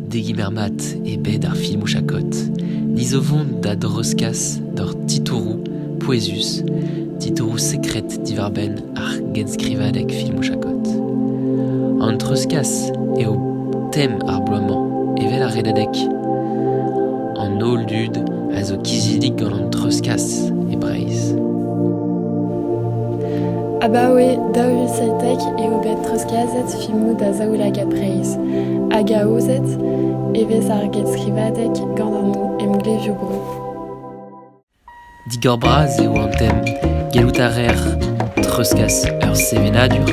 Degemer mat eo bet ar filmoù chakod. Ni zo 'vont da dreuzkas d'hor titouroù pouezus, titouroù sekred diwar-benn ar genskrivadeg filmoù chakod. An treuzkas eo tem ar bloaz-mañ, evel ar redadeg. An holl dud a zo kizidik gant an treuzkas e Breizh. Abaoe daou vil seitek eo bet treuzkaset filmoù da zaoulagad Breizh hag aozet e vez ar genskrivadeg gant an emglevioù-bro. Digor-bras eo an tem. Gellout a reer treuzkas ur sevenadur,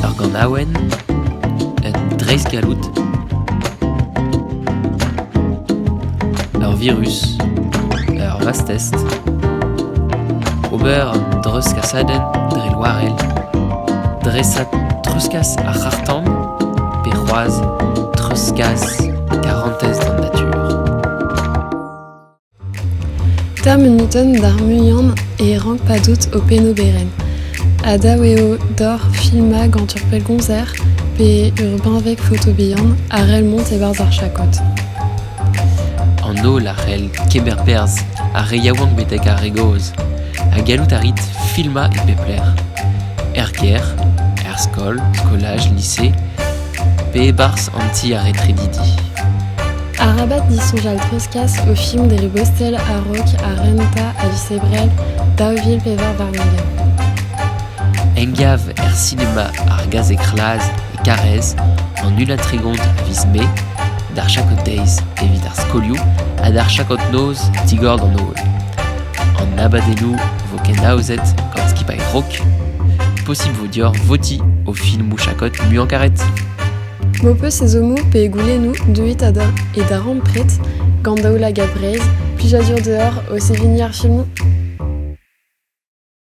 ur ganaouenn, un dreistgalloud, ur virus, ur vastest, ober un dreuzkasadenn dre loarell Dreset treuzkas ar c'harr-tan pe c'hoazh treuzkas karantez d'an natur. Ta munutenn d'ar muian e rank padout ho penn-oberenn. Ha dav eo doc'h filmañ gant ur pellgomzer pe ur benveg foto bihan a rell mont e-barzh ar chakod. An holl a c'hell kemer perzh ar re yaouank betek ar re gozh ha gallout a rit filmañ e pep lec'h, er gêr, er skol, skolaj, lise, pe e-barzh an ti ar retredidi. Arabat disoñjal treuzkas o film dre bostel a-raok ha renta a viz Ebrel daou vil pevar warn-ugent. Engav er sinema ar gazeg c'hlaz Karrez, an ulin-tregont a viz Mae, d'ar Chakoteiz evit ar skolioù ha d'ar Chakot-noz digor d'an holl. An abadennoù vo kenaozet gant skipailh rock. Possible vo dioc'h votiñ au filmoù Chakot muiañ-karet. M'ho peus ezhommoù pe goulennoù, deuit da e darempred gant Daoula Gabrez, plijadur deoc'h o seveniñ ar filmoù.